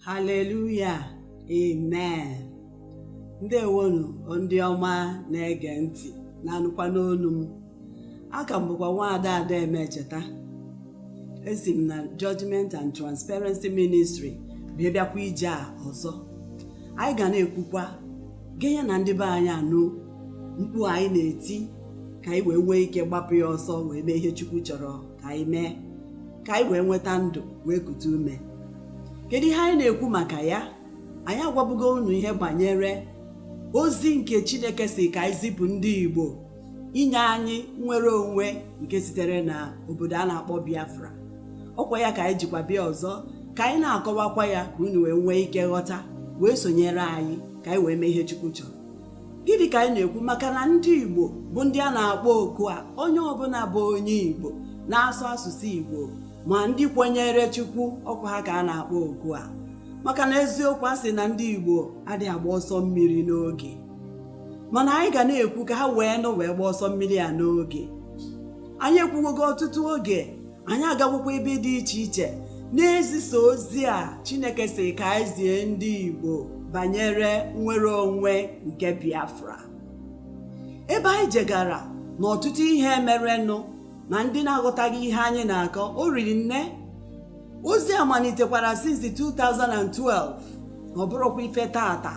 haleluya amen ndewonu ndị ọma na-ege ntị na-anụkwa n'onu m aka m bụkwa nwaada ada emecheta esi m na Judgment and Transparency Ministry bịa bịakwa ije a ọzọ anyị ga na-ekwukwa genye na ndị be anyị anụ mkpu anyị na-eti ka anyị wee nwee ike gbapụ ya ọsọ wee mee ihe Chukwu chọrọ ka anyị mee ka anyị wee nweta ndụ wee kute ume kedu ihe anyị na-ekwu maka ya anyị agwabugo unu ihe banyere ozi nke chineke sị ka anyị zipụ ndị igbo inye anyị nnwere onwe nke sitere na obodo a na-akpọ biafra ọkwa ya ka anyị jikwa bịa ọzọ ka anyị na-akọwakwa ya ka unu wee nwee ike ghọta wee sonyere anyị ka anyị wee mee ihe chukwu chọrọ gịnị ka anyị na-ekwu maka na ndị igbo bụ ndị a na-akpọ oku a onye ọbụla bụ onye igbo na-asụ asụsụ igbo ma ndị kwenyere Chukwu ọkwa ha ka a na-akpọ oku a maka na eziokwu a sị na ndị Igbo adịghị agba ọsọ mmiri n'oge mana anyị ga na-ekwu ka ha wee nụ wee gba ọsọ mmiri a n'oge anyị ekwuwogo ọtụtụ oge anyị agagokwa ebe dị iche iche na-ezisa ozi a Chineke sị ka anyị zie ndị Igbo banyere nnwere onwe nke Biafra ebe anyị jegara na ọtụtụ ihe merenụ na ndị na-aghọtaghị ihe anyị na-akọ o riri nne ozi a malitekwara since 2012 ọ bụrọkwa ife taata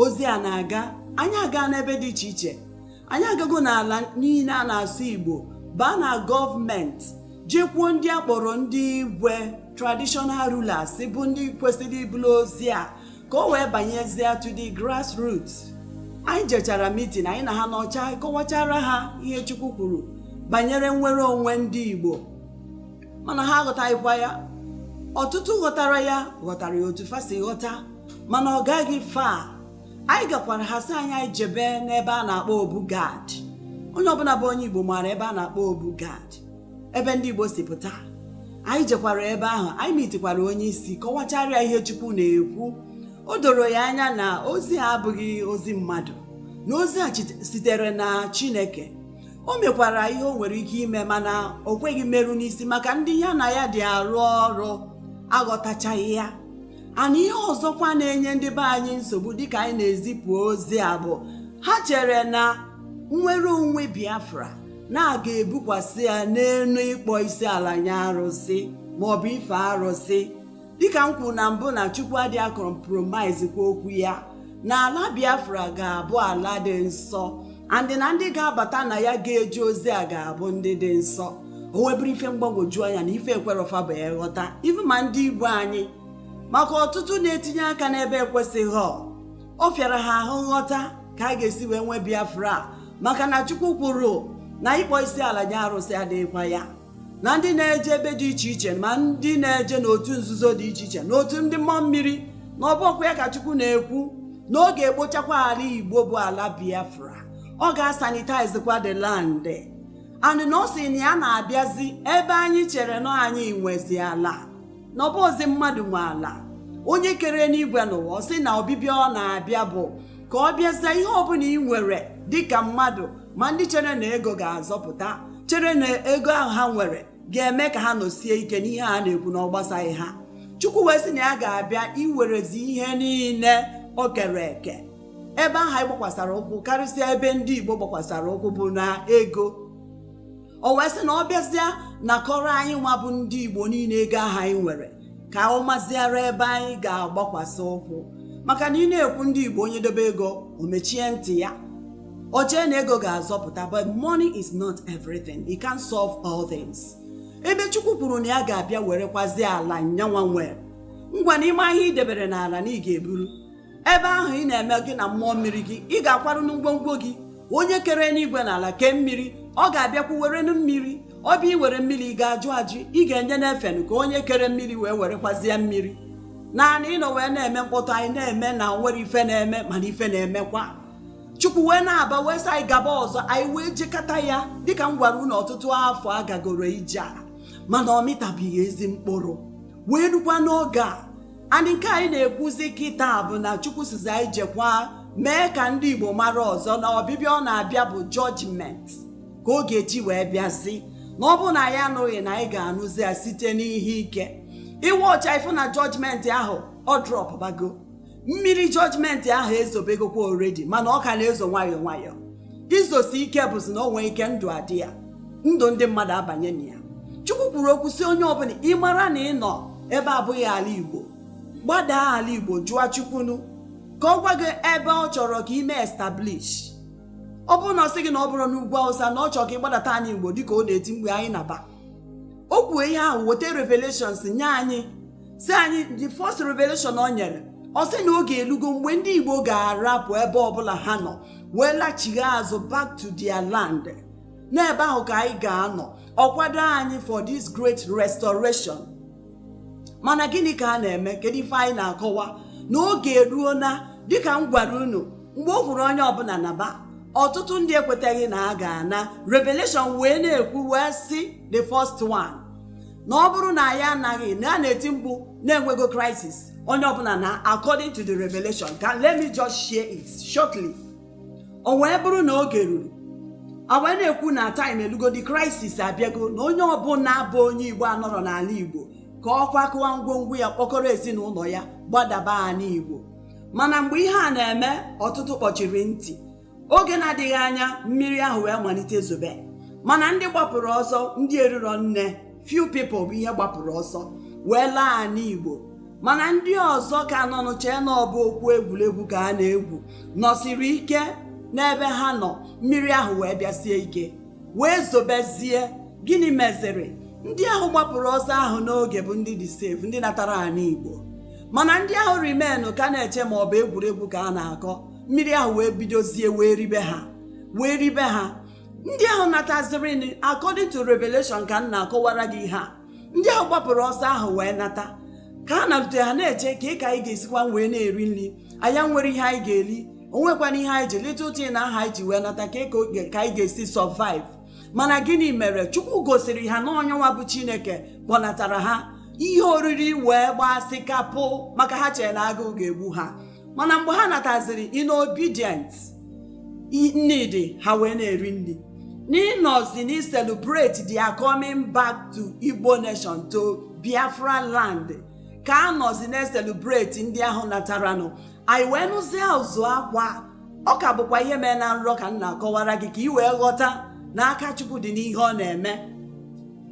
ozi a na-aga anyị agaa n'ebe dị iche iche anyị agago n'ala niile a na-asụ igbo baa na gọọmenti jekwuo ndị a kpọrọ ndị igwe traditional rulers bụ ndị kwesịrị ibulu ozi a ka o wee banyezie to the grassroots anyị jechara mitin anyị na ha nọchaa kọwachara ha ihe chukwu kwuru banyere nnwere onwe ndị igbo mana ha aghọtaghịkwa ya ọtụtụ ghọtara ya ghọtara ya otu fa si ghọta mana ọ gaghị fa anyị gakwara ha sị anyị anyị jebe n'ebe a na-akpọ obu gad onye ọbụla bụ onye igbo maara ebe a na-akpọ obu gad ebe ndị Igbo si pụta anyị jekwara ebe ahụ anyị mitikwara onye isi kọwachara ya ihe Chukwu na-ekwu o doro ya anya na ozi a abụghị ozi mmadụ na ozi a sitere na Chineke o mekwara ihe o nwere ike ime mana o kweghị mmeru n'isi maka ndị ya na ya dị arụ ọrụ aghọtachaghị ya and ihe ọzọkwa na-enye ndị be anyị nsogbu dịka anyị na-ezipụ ozi a bụ ha chere na nnwere onwe Biafra na a ga-ebukwasị ya n'elu ịkpọ isi ala nye arụsị ma ọ bụ ife arụsị dịka m kwuru na mbụ na chukwu adị acompromise kwa okwu ya na ala biafra ga-abụ ala dị nsọ and na ndị ga-abata na ya ga-eje ozi a ga-abụ ndị dị nsọ o wee bụrụ ife mgbagwoju anya na ife ekwerọ fa bụ ya ghọta ife ma ndị igbo anyị maka ọtụtụ na-etinye aka n'ebe ekwesịghị ọ fịara ha ahụ nghọta ka a ga-esi wee nwee biafra a maka na chukwu kwuru na ịkpọ isi ala nye arụsị adịghịkwa ya na ndị na-eje ebe dị iche iche ma ndị na-eje n'otu nzuzo dị iche iche n'otu ndị mmụọ mmiri na ọ bụ okwu ya ka chukwu na-ekwu na ọ ga-ekpochakwa ala igbo bụ ala biafra ọ ga-asanitizekwa the land and na ọ sị na ya na-abịazi ebe anyị chere na anyị nwezi ala na ọ bụzị mmadụ nwe ala onye kere enigwe na ụwa ọ sị na ọbịbịa ọ na-abịa bụ ka ọ bịazie ihe ọbụla ị nwere dịka mmadụ ma ndị chere na ego ga-azọpụta chere na ego ahụ ha nwere ga-eme ka ha nọsie ike n'ihe a na-ekwu na ọ gbasaghị ha chukwu wee sị na ya ga-abịa iwerezi ihe niile o kere eke ebe ahụ anyị gbakwasara ụkwụ karịsịa ebe ndị igbo gbakwasara ụkwụ bụ na ego o wee sị na ọ bịazịa nakọrọ anyị nwa bụ ndị igbo niile ego ahụ anyị nwere ka ọ maziara ebe anyị ga-agbakwasị ụkwụ maka na ị na-ekwu ndị igbo onye dobe ego o mechie ntị ya o chee na ego ga-azọpụta but money is not everything it can't solve all things ebe chukwu kwuru na ya ga-abịa werekwazi ala nyanwa nwe ngwa n'ime ahịa i debere n'ala na ị ga-eburu ebe ahụ ị na-eme gị na mmụọ mmiri gị ị ga-akwaranụ ngwongwo gị onye kere enigwe na ala kee mmiri ọ ga-abịakwu were mmiri ọ bịa iwere mmiri ị ga-ajụ ajụ ị ga-enyenụ ya efe nụ ka onye kere mmiri wee werekwazie mmiri naanị ịnọ wee na-eme mkpọtụ anyị na-eme na o nwerọ ife na-eme mana ife na-emekwa chukwu wee na-aba wee sị anyị gaba ọzọ anyị wee jekata ya dịka m gwara unu ọtụtụ afọ a gagoro ije a mana ọ mịtabeghị ezi mkpụrụ wee rukwa n'oge a and nke anyị na-ekwuzi kịta bụ na chukwu sịzị anyị jekwa mee ka ndị igbo mara ọzọ na ọbịbịa ọ na-abịa bụ judgment ka ọ ga-eji wee bịazi na ọ bụrụ na anyị anụghị na anyị ga-anụzi ya site n'ihe ike iwe ọcha ị fụ na judgment ahụ ọ dropụbago mmiri judgment ahụ ezobegokwa already mana ọ ka na-ezo nwayọọ nwayọọ izosi ike bụzi na o nwee ike ndụ adị ya ndụ ndị mmadụ abanye na ya chukwu kwuru okwu sị onye ọbụla ị mara na ị nọ ebe abụghị ala igbo gbadaa ala igbo jụọ chukwu nụ ka ọ gwa gị ebe ọ chọrọ ka i me establish ọ bụrụ na ọ sị gị na ọ bụrọ n'ugwu awụsa na ọ chọrọ ka ị gbadata ana igbo dịka ọ na-eti mkpu anyị naba o kwuo ihe ahụ weta revelations nye anyị sị anyị the first revelation ọ nyere ọ sị na oge elugo mgbe ndị igbo ga-arapụ ebe ọbụla ha nọ wee lachigha azụ back to their land n'ebe ahụ ka anyị ga-anọ ọ kwado anyị for this great restoration mana gịnị ka a na-eme kedu ife anyị na-akọwa na oge eruo na dịka m gwara unu mgbe o kwuru onye ọbụla naba ọtụtụ ndị ekwetaghị na a ga-ana revelation wee na-ekwu wee sị the first one na ọ bụrụ na anyị anaghị na a na-eti mkpu na-enwego crisis onye ọbụla na according to the revelation ka let me just share it shortly o wee bụrụ na oge ruru a wee na-ekwu na time elugo the crisis abịago na onye ọbụla bụ onye igbo anọrọ n'ala igbo ka ọ kwakọwa ngwongwo ya kpọkọrọ ezinụlọ ya gbadaba ala igbo mana mgbe ihe a na-eme ọtụtụ kpọchiri ntị oge na-adịghị anya mmiri ahụ wee malite zobe mana ndị gbapụrụ ọsọ ndị eriro nne few people bụ ihe gbapụrụ ọsọ wee laa anị igbo mana ndị ọzọ ka nọ n'uche na ọ bụ okwu egwuregwu ka a na-egwu nọsiri ike n'ebe ha nọ mmiri ahụ wee bịasie ike wee zobezie gịnị meziri ndị ahụ gbapụrụ ọsọ ahụ n'oge bụ ndị dị safe ndị natara anị igbo mana ndị ahụ remain ka na-eche ma ọ bụ egwuregwu ka a na-akọ mmiri ahụ wee bidozie wee ribe ha wee ribe ha ndị ahụ natazirinụ according to revelation ka m na-akọwara gị ihe a ndị ahụ gbapụrụ ọsọ ahụ wee nata ka ha nalute ha na-eche kee ka anyị ga-esikwa wee na-eri nri anyị nwere ihe anyị ga-eri o nwekwana ihe anyị ji little thing ahụ anyị ji wee nata kee ka anyị ga-esi survive mana gịnị mere chukwu gosiri ha na ọ yanwa bụ chineke kpọnatara ha ihe oriri wee gbasị kapụ maka ha chere na agụụ ga-egbu ha mana mgbe ha nataziri in obedience nri dị ha wee na-eri nri n'ịnọzi na celebrate their coming back to Igbo nation to Biafra land ka a nọzi na-eselebreti ndị ahụ nataranụ anyị wee nụzie ụzụ akwa ọ ka bụkwa ihe mee na nrọ ka m na-akọwara gị ka ị wee ghọta na aka Chukwu dị n'ihe ọ na-eme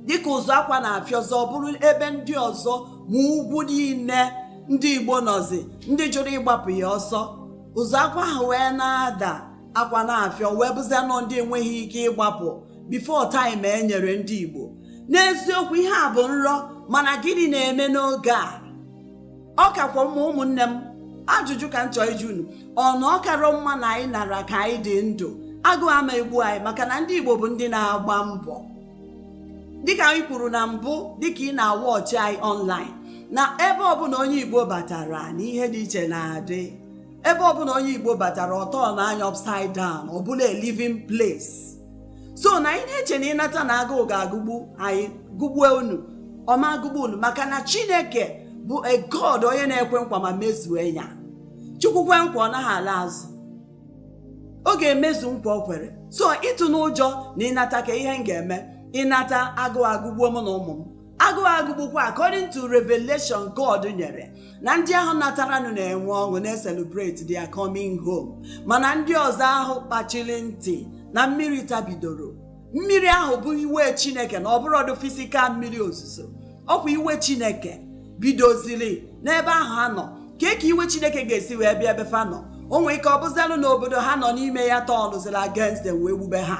dịka ụzụ akwa na-afịọzi ọ bụrụ ebe ndị ọzọ ma ugwu niile ndị igbo nọzi ndị jụrụ ịgbapụ ya ọsọ ụzụ akwa ahụ wee na-ada akwa na-afịọ wee bụzia na ọ ndị enweghị ike ịgbapụ before time e nyere ndị igbo n'eziokwu ihe a bụ nrọ mana gịnị na-eme n'oge a ọ kakwa mma ụmụnne m ajụjụ ka m chọọ ịjụ unu ọ na ọ karọ mma na anyị nara ka anyị dị ndụ agụụ ama egbu anyị maka na ndị igbo bụ ndị na-agba mbọ dịka anyị kwuru na mbụ dịka ị na-awọchị anyị ọnlaịn na ebe ọbụla onye igbo batara na ihe dị iche na-adị ebe ọbụla onye igbo batara ọ tọọnụ nya upside down ọ bụrụ a living place so na ị na-eche na ị nata na agụụ ga-agụgbu anyị gụgbue unu ọ ma agụgbu unu maka na chineke bụ a god onye na-ekwe nkwa ma mezue ya chukwu kwe nkwa ọ naghị ala azụ ọ ga-emezu nkwa o kwere so ị tụna ụjọ na ị nata kee ihe m ga-eme ị nata agụụ agụgbuo mụ na ụmụ m agụụ agụgbukwa according to revelation God nyere na ndị ahụ nataranụ na-enwe ọṅụ na-eselebrate their coming home mana ndị ọzọ ahụ kpachiri ntị na mmiri tabidoro mmiri ahụ bụ iwe chineke na ọ bụrọdụ fisikal mmiri ozuzo ọkwa iwe chineke bidoziri n'ebe ahụ ha nọ kee ka iwe chineke ga-esi wee bịa ebe fa nọ o nwee ike ọ bụzialụ na obodo ha nọ n'ime ya tọọnụziri against them wee gbube ha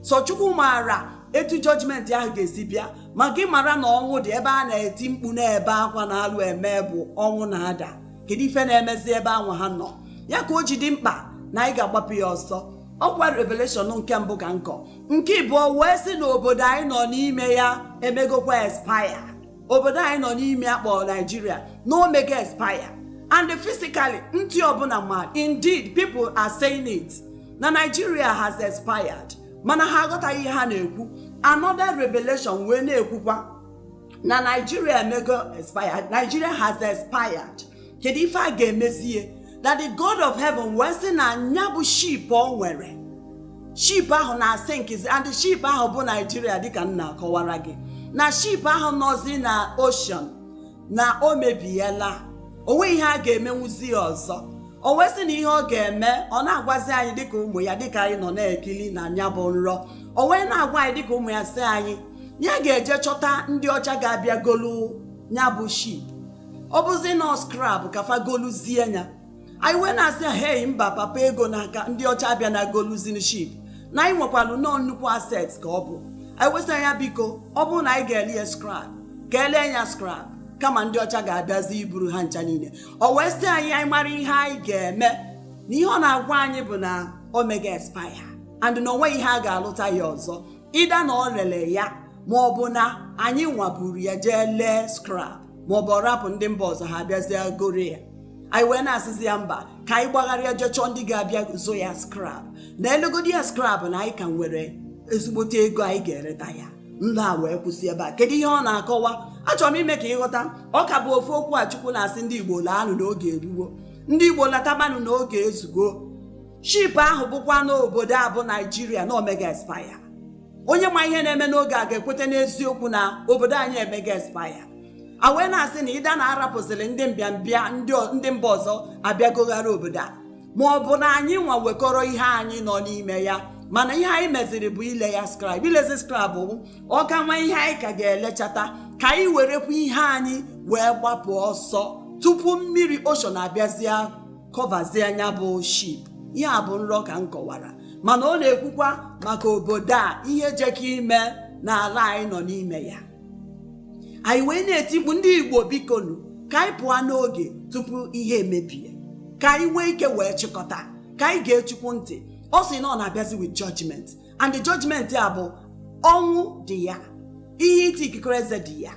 sọ chukwu maara etu jọjimenti ahụ ga-esi bịa ma gị mara na ọnwụ dị ebe a na-eti mkpu na-ebe akwa na alụ eme bụ ọnwụ na-ada kedu ife na-emezi ebe anwa ha nọ ya ka o ji dị mkpa na anyị ga-agbapụ ya ọsọ ọkwa revelation nke mbụ ka m kọ nke ịbụọ wee sị na obodo anyị nọ n'ime ya emegokwa espaya obodo anyị nọ n'ime ya a kpọrọ naijiria na o mego espaya and physically ndị ọbụla ma indeed people are saying it na naijiria has expired mana ha aghọtaghị ihe ha na-ekwu another revelation wee na-ekwukwa na naijiria emego expired naijiria has expired kedu ife a ga-emezie that the god of heaven wee sị na nya bụ ship o nwere ship ahụ na-asịnkịzi and ship ahụ bụ naijiria dịka m na-akọwara gị na ship ahụ nọzi na ocean na o mebiela o nweghị ihe a ga-emenwuzi ya ọzọ o wee sị na ihe ọ ga-eme ọ na-agwazi anyị dịka ụmụ ya dịka anyị nọ na-ekili na nya bụ nrọ o wee na-agwa anyị dịka ụmụ ya sị anyị ya ga-eje chọta ndị ọcha ga-abịa golu nya bụ ship ọ bụzi nọọ skrab ka fa goluzie nya anyị wee na-asị hei mba papa ego n'aka ndị ọcha abịana goluzie ship na anyị nwekwalu nọọ nnukwu aset ka ọ bụ anyị wee sị ya biko ọ bụrụ na anyị ga-ele ya skrab ka e lee ya skrab kama ndị ọcha ga-abịazi buru ha ncha niile o wee sị anyị anyị mara ihe anyị ga-eme na ihe ọ na-agwa anyị bụ na o mego expire and na o nweghị ihe a ga-alụta ya ọzọ either na o lele ya ma ọ bụ na anyịnwa buru ya jee lee skrab ma ọ bụ ọ rapụ ndị mba ọzọ ha abịazie goro ya anyị wee na-asịzi ya mba ka anyị gbagharịa jee chọọ ndị ga-abịa zụọ ya skrab na e legodi ya skrab na anyị ka nwere ezigbote ego anyị ga-ereta ya nrọ a wee kwụsị ebe a kedu ihe ọ na-akọwa achọrọ m ime ka ị ghọta ọ ka bụ ofu okwu a Chukwu na-asị ndị Igbo laanụ na oge eruwo ndị Igbo latabanụ na oge ezugo ship ahụ bụkwanụ obodo a bụ Naijiria na o mego expire onye ma ihe na-eme n'oge a ga-ekweta n'eziokwu na obodo anyị emega expire a wee na-asị na either na-arapụziri ndị mbịambịa ndị mba ọzọ abịagoghara obodo a ma ọ bụ na anyị nwa wekọrọ ihe anyị nọ n'ime ya mana ihe anyị meziri bụ ile ya scrap ilezi scrap bụ ọ ka nwe ihe anyị ka ga-elechata ka anyị werekwa ihe anyị wee gbapụ ọsọ tupu mmiri ocean abịazie kọvazie nya bụ ship ihe a bụ nrọ ka m kọwara mana ọ na-ekwukwa maka obodo a ihe jekọ ime n'ala anyị nọ n'ime ya anyị wee na-eti mkpu ndị igbo bikonu ka anyị pụọ n'oge tupu ihe emebie ka anyị nwee ike wee chịkọta ka anyị gee chukwu ntị ọ sị na ọ na-abịazi with judgment and the judgment a bụ ọnwụ dị ya ihe ịta ikikere eze dị ya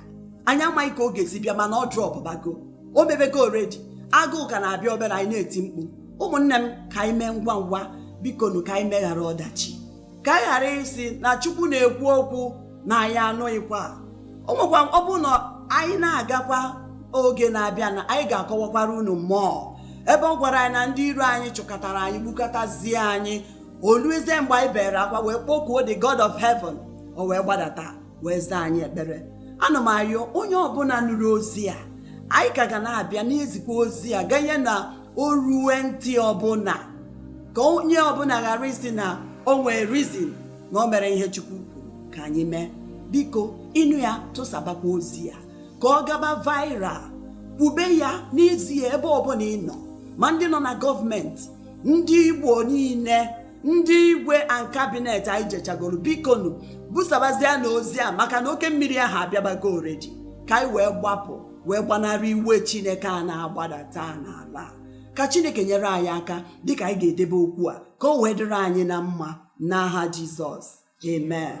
anyị amaghị ka ọ ga-esi bịa mana ọ drọpụbago o mebego already agụụ ka na-abịa obere anyị na-eti mkpu ụmụnne m ka anyị mee ngwa ngwa bikonu ka anyị meghara ọdachi ka anyị ghara ịsị na chukwu na-ekwu okwu na anyị anụghịkwa o nwekwa ọ bụrụ na anyị na-agakwa oge na-abịa na anyị ga-akọwakwara unu mmụọ ebe ọ gwara anyị na ndị iro anyị chụkatara anyị gbukatazie anyị o luezie mgbe anyị bere akwa wee kpokuo the god of heaven o wee gbadata wee zaa anyị ekpere ana m arịọ onye ọbụla nụrụ ozi a anyị ka ga na-abịa na-ezikwa ozi a ganye na o ruwe ntị ọbụla ka onye ọbụla ghara ịsị na o nwee reason na o mere ihe chukwu kwuru ka anyị mee biko ị nụ ya tụsabakwa ozi a ka ọ gaba viral kwube ya n'ezie ebe ọbụla ị nọ ma ndị nọ na gọọmenti ndị igbo niile ndị igwe and cabinet anyị jechagoro bikonu busabazienụ ozi a maka na oke mmiri ahụ abịabago already ka anyị wee gbapụ wee gbanarị iwe chineke a na-agbadata n'ala ka chineke nyere anyị aka dịka anyị ga-edebe okwu a ka o wee dịrị anyị na mma n'aha jizọs amen